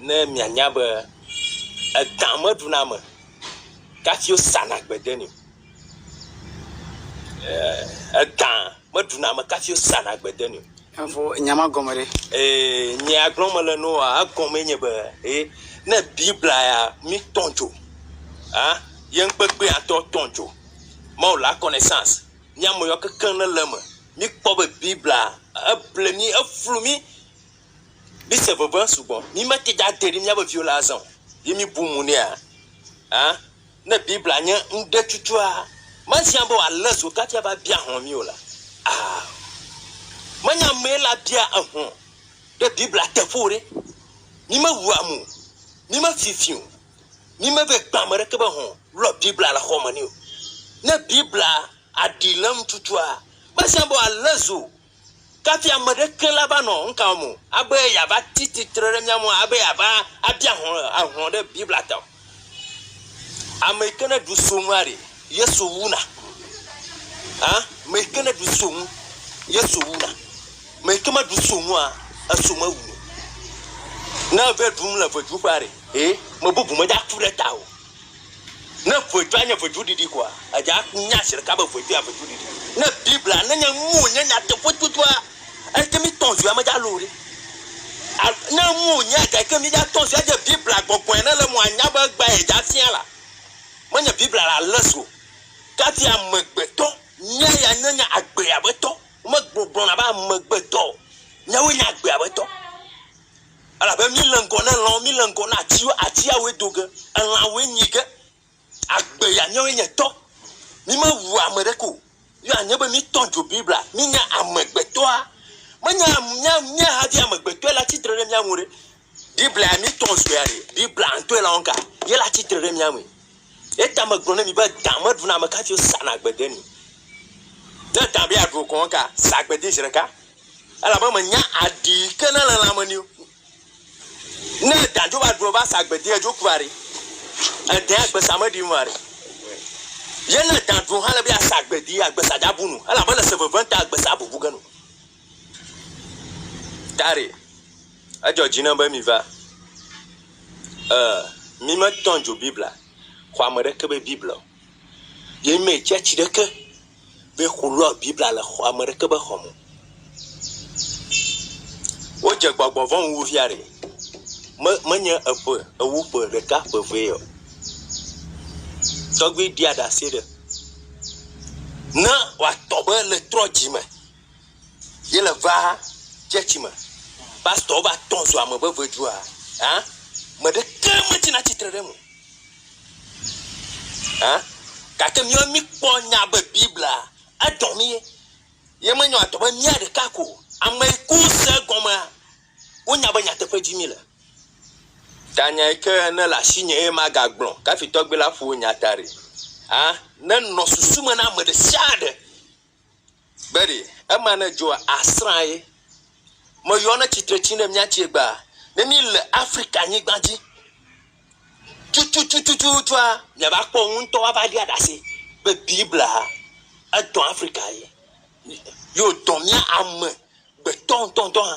ne mianya be edã meɖuna ame kafi wosana gbe de nɛ o. Eeeee edã meɖuna ame kafi wosana gbe de nɛ o. Efo nya ma gɔme ɖe? Ee, nyea gblɔm mele na woa, egɔmee nye be, e ne Biblia ya mi tɔ dzo a ye ŋkpekpe ya tɔ tɔ dzo Mawu la connaissance mía me yɔ kekeŋ ne le eme. Míkpɔ be Biblia eble mí, eflu mí. Míse veve sugbɔ. Mímete ŋu ade ɖe míaƒe viwo la azã o ye míbu mo nɛa? Ã? Ne Biblia nye nuɖetututɔa, mehiã be wòalé zo kafi ava bia hlɔ̃ mí o la, ao, menye amee la bia ehlɔ̃ ɖe Biblia teƒe o ɖe. Mímewua mo o, mímefifii o, mímevɛ kpea ame aɖeke be hlɔ̃ lɔ Biblia le xɔme nɛ o. Ne Biblia aɖi le eŋu tutua, mehiã be wòalé zo Kafi ame ɖeke la va nɔ ŋkawɔm o, abe yeava ti tsitre ɖe mía ŋu abe yeava abia hlɔ̃ ahlɔ̃ ɖe Biblia ta o. Ame yi ke neɖu so ŋua ɖe, Yesu wu na. Hã? Ame yi ke neɖu so ŋu, Yesu wu na. Ame yi ke meɖu so ŋua, eso mewu na o. Ne eve ɖum le veduƒea ɖe, hɛ, ame bubu mede aku ɖe ta o. Ne ʋetsua nye ʋetsuɖiɖi koa, edze afi nya zi ɖeka be ʋetsua ʋetsuɖiɖi. Ne Biblia nenye nu wònye nyateƒe tutua, eke mi tɔn zui amedza loo ɖe. A, ne nu wònye eke ke mi dza tɔn zui adze Biblia gbɔgbɔe ne le mo anya be egbea edze afia la, menye Biblia la le zu o. Kafi amegbetɔ, nya ya nenye agbea be tɔ. Womegblɔna be amegbetɔ o. Nyawoe nye agbea be tɔ. Elabe míle ŋgɔ na lãwo, míle ŋgɔ na atiwo, atiawoe do ge, elãwoe nyi ge, agbe ya míawoe nye tɔ. Mímewu ame ɖeke o, ye wòanye be míetɔ dzo Biblia, mínye amegbetɔa, menye mía, mía havi amegbetɔe le atsi tre ɖe mía ŋu ɖe, Biblia ya míetɔ zɔea ɖe, Biblia ŋutɔe le wɔm ga, ye le atsi tre ɖe mía ŋui. Eya ta megblɔ ne mi be, dã meɖuna ame kafi wosana agbede nɛ. Ne dã be yeaɖu o kɔŋ ka, sa agbedee zi ɖeka. Elabe menya aɖi yi ke nele lãme nɛ o. Ne edã dzo va ɖu eva sa gbe dea edzoku va ɖi. Edã agbe sa me ɖim va ɖi. Ye ne edã ɖu hã le be ya sa gbe di agbe sa dza bu nu. Elabe le se veve ŋta agbe sa bubu ge nu. Tari, edzɔ dzi nam be mi va. E, mi me tɔn dzo Biblia, xɔ ame ɖeke be Biblia o. Ye mi me tsia tsi ɖeke be xolɔ Biblia le xɔ ame ɖeke be xɔme o. Wodze gbɔgbɔ vɔ̃ ŋu wu fia ɖe me menye eƒe ewu ƒe ɖeka ƒe evee o. Tɔgbui ɖia ɖase ɖe ne woatɔ be le trɔ dzi me ye le va tsɛtsi me. Pastɔwo va tɔ zu ame veve dzua hã me ɖeke metsina tsitre ɖe eme o. Ã? Gake míawo míkpɔ nya be Biblia edɔ mí. Ye menyɔ adɔ be mía ɖeka ko o. Ame yi ke wose egɔmea, wonya be nyateƒe dim míele. Ta nya yi ke ne le asinye eye magagblɔ kafitɔgbi la ƒo nya ta ɖi. Ã? Nenɔ susu me na ame ɖe sia ɖe. Gbeɖe, ema ne dzɔa, asrã ye. Meyɔ ne tsitre tsi ne mía tsie gbaa. Ne mi le Afrika nyigba dzi, tututututua, mia va kpɔ ŋu ŋutɔ ava ɖia ɖase be Biblia edɔ Afrika ye. Yo dɔ mía ame gbetɔ ŋutɔ ŋutɔ hã.